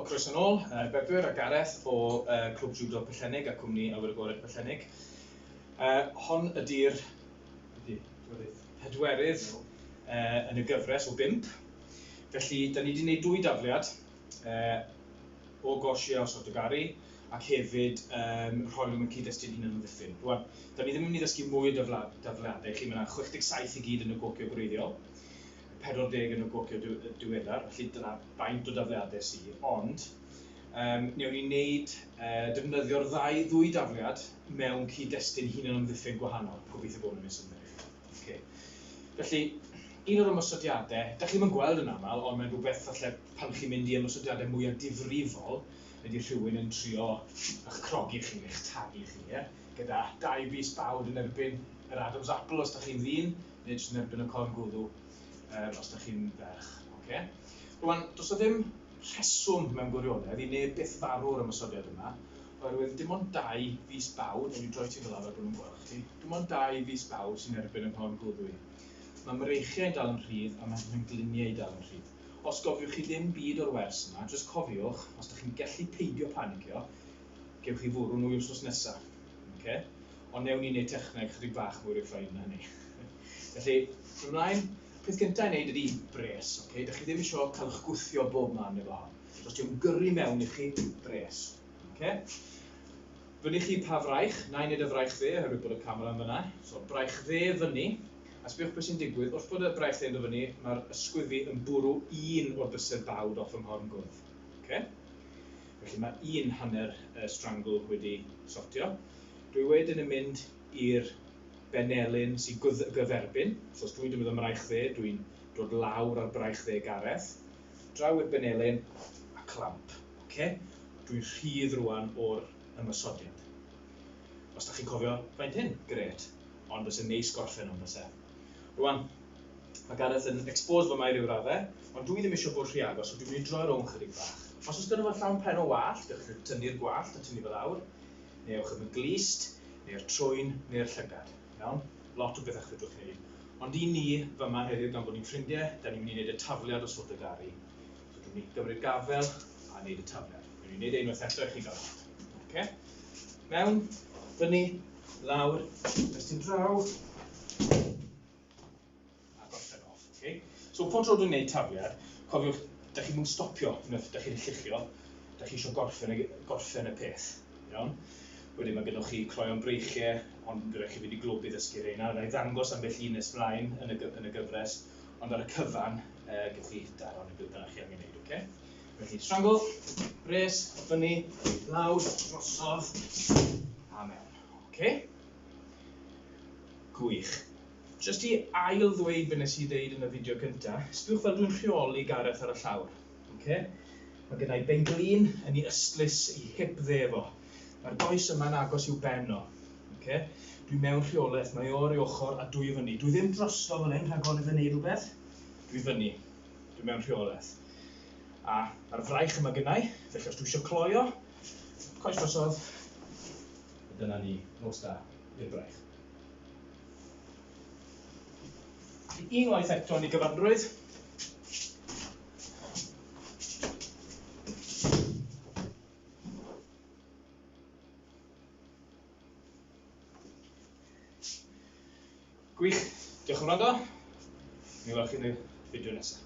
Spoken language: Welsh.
croeso nôl, uh, Bedwyr a Gareth o uh, Clwb Judo Pellennig a cwmni Awyr Agored Pellennig. Uh, hon ydy'r pedwerydd uh, yn y gyfres o bimp. Felly, da ni wedi gwneud dwy dafliad. o gosh ie o sort o garu ac hefyd um, rhoi nhw'n cyd-destun hyn yn ddiffyn. Rwan, da ni ddim yn mynd i ddysgu mwy o dafliadau chi, mae yna 67 i gyd yn y gocio gwreiddiol, 40 yn y gocio diweddar, felly dyna faint o dafliadau sydd, ond um, newn ni wneud uh, defnyddio'r ddau ddwy dafliad mewn cyd-destun hyn yn ymddiffyn gwahanol, gobeithio bod yn nes ymwneud. Okay. Felly, un o'r ymosodiadau, da chi'n mynd gweld yn aml, ond mae'n rhywbeth falle pan chi'n mynd i ymosodiadau mwyaf difrifol, ydy rhywun yn trio eich crogi chi, eich tagu chi, ie? gyda dau bus bawd yn erbyn yr Adam's Apple os da chi'n ddyn, neu jyst yn erbyn y corn gwddw um, os da chi'n ferch. Okay? Rwan, does o ddim rheswm mewn gwirionedd i neb byth farw o'r ymosodiad yma, oherwydd dim ond dau fus bawd, ond i droi ti fel arfer bod nhw'n gweld chdi, Dim ond dau fis bawb sy'n erbyn y Mhorn Gwddwy. Mae mreichiau'n dal yn rhydd a mae mhengliniau dal yn rhydd. Os gofiwch chi ddim byd o'r wers yma, jyst cofiwch, os dych chi'n gallu peidio panicio, gewch chi fwrw nwy wsnos nesa. Oce? Ond newn ni wneud techneg chydig bach mwy refined na hynny. Felly, ymlaen, peth gyntaf i wneud ydy bres, oce? Dych chi ddim eisiau cael eich gwthio bob man efo hon. Os di'n gyrru mewn i chi, bres. Oce? Fyny chi pa fraich, na i neud y fraich dde oherwydd bod y camera yn fyna, so braich dde fyny, a sbiwch be sy'n digwydd, wrth bod y braich dde yn dod fyny, mae'r ysgwyddfi yn bwrw un o'r bysedd bawd off fy nghorn gwddf. Oce? Felly mae un hanner y strangle wedi sortio. Dwi wedyn yn mynd i'r benelin sy'n gyferbyn, so os dwi'n defnyddio mraich dde, dwi'n dod lawr ar braich dde Gareth, draw i'r benelin a clamp. Oce? Dwi'n rhydd rwan o'r ymosodiad. Os da chi'n cofio faint hyn, gret. Ond byse neis gorffen hwn byse. Rwan, mae Gareth yn expose fy mae rhyw radde, ond dwi ddim eisiau bod rhy agos, so dwi'n mynd i droi rownd chydig bach. Os oes gyda fo llawn pen o wallt, gallwch chi tynnu'r gwallt a tynnu fo lawr, neu ewch am y glust, neu'r trwyn, neu'r llygad. Iawn? Lot o bethe chi'n gallu gwneud. Ond i ni, fy ma heddiw gan bod ni'n ffrindie, da ni'n mynd i wneud y tafliad o sod y gari. So dwi'n mynd i gymryd gafel a wneud y tafliad. Dwi'n mynd i wneud e unwaith eto i chi gael weld. Okay? Mewn, fyny, lawr, ymestyn draw. a gorffen off, oce? So, pob tro dwi'n neud tafliad, cofiwch, da chi mwyn stopio, unwaith da chi'n lluchio, da chi eisiau gorffen, gorffen y peth, iawn? Wedyn mae gennych chi cloion breichiau, ond bydd rhaid chi fynd i glwb i ddysgu reina. Rhaid ddangos am bell un nes mlaen yn y, yn y gyfres, ond ar y cyfan, e, gwych chi daro neu beth bynnag chi angen gwneud, oce? Okay? Felly, strangle, res, fyny, lawr, drosodd, a mewn, oce? Okay? Gwych. Jyst i ail ddweud be nes i ddeud yn y fideo cynta, sbiwch fel dwi'n rheoli Gareth ar y llawr. Oce? Mae gennai benglin yn i ystlys i hip dde efo. Mae'r does yma'n agos i'w ben o. Oce? Dwi mewn rheolaeth, mae o ar ei ochr a dwy i fyny. Dwi ddim drosto fan hyn rhag orfod neud rhywbeth. Dwi fyny. Dwi mewn rheolaeth. A mae'r fraich yma gennai, felly os dwi eisiau cloio, coes drosodd, dyna ni, nos da i'r braich. Unwaith eto yn ei gyfanrwydd. Gwych, diolch yn rando. Mi welwch chi yn y fideo nesaf.